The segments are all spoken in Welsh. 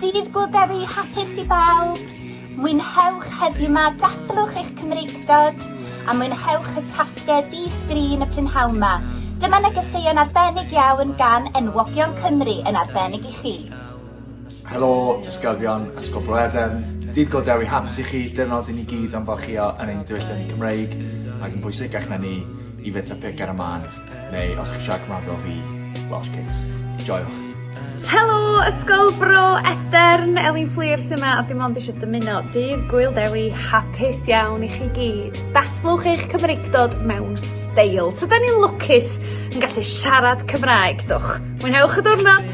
Dydd Gŵyl Dewi hapus i bawb! Mwynhewch heddiw 'ma, dathlwch eich Cymreictod a mwynhewch y tasged di sgrin y prynhawn 'ma. Dyma negeseuon arbennig iawn gan enwogion Cymru yn arbennig i chi. Helo, disgyblion Ysgol Bro Edern. Dydd Go Dewi Hapus i chi, dyrnod i ni gyd am farchio yn ein diwylliant Cymreig, ac yn bwysicach na ni, i fita pic ar y man, neu os chi'n siarad Cymraeg fel fi, Welsh Cakes. Joiwch! Helo, Ysgol Bro Edern, Elin Fflur sy'n yma a dim ond eisiau dymuno dydd Gwyl Dewi hapus iawn i chi gyd. Dathluwch eich Cymreictod mewn steil. Tydan ni'n lwcus yn gallu siarad Cymraeg, dwch. Mwynhewch y diwrnod!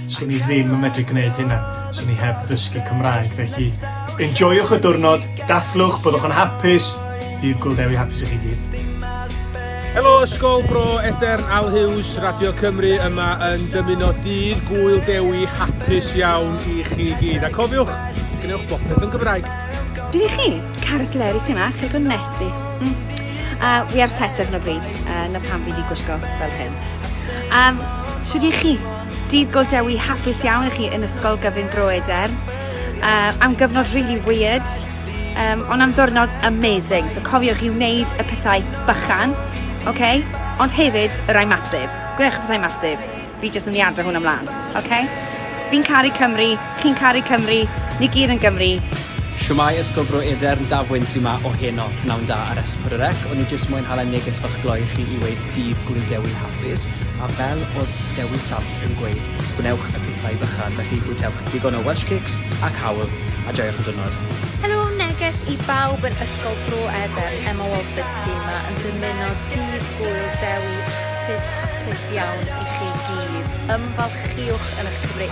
Swn i ddim yn medru gwneud hynna, swn i heb ddysgu Cymraeg, felly enjoiwch y diwrnod, dathlwch, byddwch yn hapus, bydd Gŵyl Dewi hapus i chi gyd. Helo Ysgol Bro Edern, Al Hughes, Radio Cymru yma yn dymuno dydd Gŵyl Dewi hapus iawn i chi gyd. A cofiwch, gwnewch bopeth yn Gymraeg. Dyn i chi, Carys Lerys yma, chi'n gwneud neti. Mm. A we are set ar hyn o bryd, uh, na pam fi wedi gwisgo fel hyn. Um, Sut i chi? Dydd Golddewi hapus iawn i chi yn Ysgol Gyfun Bro Eder. Uh, am gyfnod really weird, um, ond am ddwrnod amazing. So cofiwch i wneud y pethau bychan, okay? ond hefyd y rai masif. Gwnewch y pethau masif. Fi jyst yn mynd i adro hwn ymlaen, okay? Fi'n caru Cymru, Chi'n caru Cymru, ni gyd yn Gymru. Shwmae Ysgol Bro Edern, Daf Wyn sy 'ma o heno. Pnawn da ar SPRREC. O'n i jyst moyn hala neges fach gloi i chi i weud Dydd Gŵyl Dewi hapus, a fel o'dd Dewi Sant yn gweud, gwnewch y pethau bychan, felly bwytewch ddigon o Welsh Cakes a cawl, a joiwch y diwrnod. Helo, neges i bawb yn Ysgol Bro Edern, Emma Walford sy 'ma yn dymuno Dydd Gŵyl Dewi hapus, hapus iawn i chi gyd. Ymfalchiwch yn 'ych Cymry.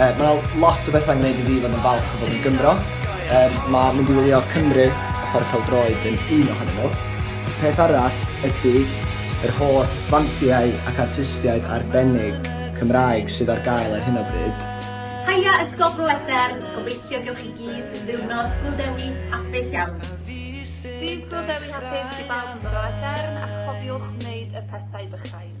Yy ma' 'na lot o betha'n gneud i fi fod yn falch o fod yn Gymro. Yym ma' mynd i wylio Cymru a chware pêl-droed yn un ohonyn nhw. Peth arall ydi yr holl fandiau ac artistiaid arbennig Cymraeg sydd ar gael ar hyn o bryd. Haia Ysgol Bro Edern, gobeithio gewch chi gyd ddiwrnod Gŵyl Dewi hapus iawn. Dydd Gŵyl Dewi hapus i bawb yn Bro Edern a chofiwch wneud y pethau bychain.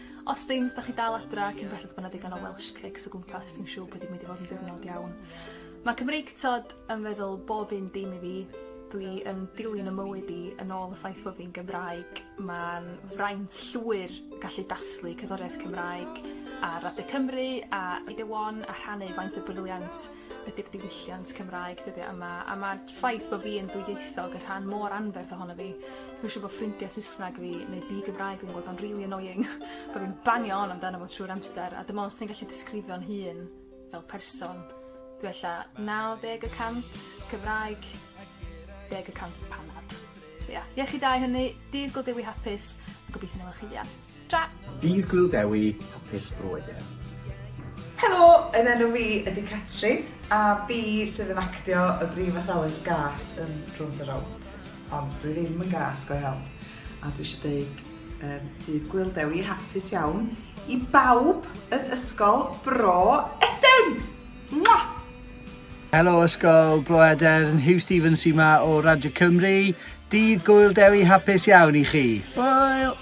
Os ddim, os 'dach chi dal adra cyn belled bo' 'na ddigon o Welsh cakes o gwmpas dwi'n siŵr bod 'i'n mynd i fod yn ddiwrnod iawn. Ma' Cymreig t'od yn feddwl bob un dim i fi. Dwi yn dilyn 'y mywyd i yn ôl y ffaith fo fi'n Gymraeg. Ma'n fraint llwyr gallu dathlu cerddoriaeth Cymraeg ar Radio Cymru a Radio One a rhannu faint o briliant ydi'r diwylliant Cymraeg dyddia' yma a ma'r ffaith bo' fi yn ddwyieithog y' rhan mor anferth ohono fi. Dwi siŵr bo' ffrindie Sysnag fi neu di-Gymraeg fi'n gweld o'n rili annoying bo' fi'n bangio on amdano fo trwy'r amser a dwi me'wl os ti'n gallu disgrifio'n hun fel person dwi ella naw deg y cant Cymraeg deg y cant panad. So ia, iechyd da i hynny, dydd Go Dewi hapus a gobeithio 'na wela' chi fuan. Tara! Dydd Gŵyl Dewi, hapus brodyr. Helo, yn enw fi ydi Catrin a fi sydd yn actio y brif athrawes gas yn Rownd the Rownd. Ond dwi ddim yn gas go iawn. A dwi eisiau deud um, dydd Gwyl Dewi hapus iawn i bawb yn Ysgol Bro Eden! Mwah! Helo Ysgol Bro Eden, Hugh Stevens sy'n ma o Radio Cymru. Dydd Gwyl Dewi hapus iawn i chi. Hwyl!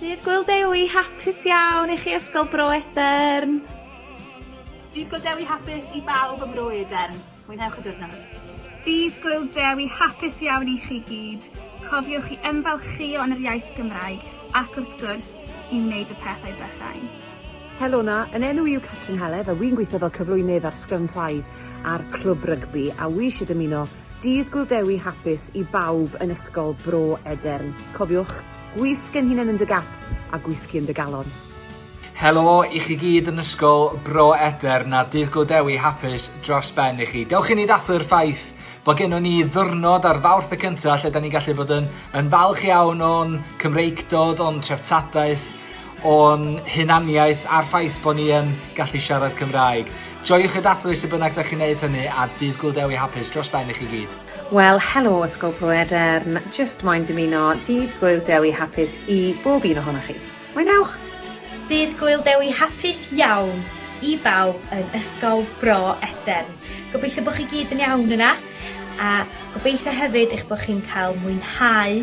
Dydd Gwyl Dewi hapus iawn i chi Ysgol Bro Edern! Dydd Gwyl Dewi hapus i bawb ym Mro Edern. Mwynhewch y diwrnod. Dydd Gwyl Dewi hapus iawn i chi gyd. Cofiwch i ymfalchïo yn yr iaith Gymraeg ac wrth gwrs, i wneud y pethau bychain. Helo 'na, yn enw i yw Catrin Heledd a wi'n gweithio fel cyflwynydd ar Sgyrn Five a'r Clwb Rygbi a wi isie dymuno Dydd Gŵyl Dewi hapus i bawb yn Ysgol Bro Edern. Cofiwch, gwisg ein hunain yn dy gap a gwisgi yn dy galon. Helo i chi gyd yn Ysgol Bro Edern a Dydd Gŵyl Dewi hapus dros ben i chi. Dewch i ni ddathlu'r ffaith bod gennon ni ddwrnod ar Fawrth y cynta lle 'dan ni'n gallu bod yn yn falch iawn o'n Cymreictod, o'n treftadaeth, o'n hunaniaeth a'r ffaith bod ni yn gallu siarad Cymraeg. Joiwch y dathlu sut bynnag da chi'n neud hynny a Dydd Gŵyl Dewi hapus dros ben i chi gyd. Wel, helo Ysgol Bro Edern, jyst moyn dymuno Dydd Gŵyl Dewi hapus i bob un ohonoch chi. Mwynhewch! Dydd Gŵyl Dewi hapus iawn i bawb yn Ysgol Bro Edern. Gobeithio bod chi gyd yn iawn yna a gobeithio hefyd eich bod chi'n cael mwynhau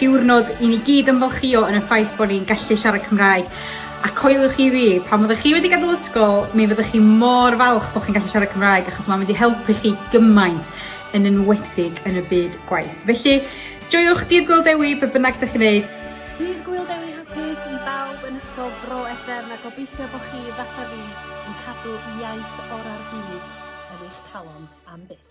diwrnod i ni gyd ymfalchïo yn y ffaith bod ni'n gallu siarad Cymraeg. A coeliwch chi fi, pan fyddwch chi wedi gadael ysgol, mi fyddwch chi mor falch bod chi'n gallu siarad Cymraeg achos mae'n mynd i helpu chi gymaint, yn enwedig yn y byd gwaith. Felly, joiwch Dydd Gwyl Dewi, be bynnag ydych chi'n neud. Dydd Gwyl Dewi hapus i bawb yn Ysgol Bro Edern a gobeithio bod chi, fatha fi, yn cadw iaith orau'r byd yn eich calon am byth.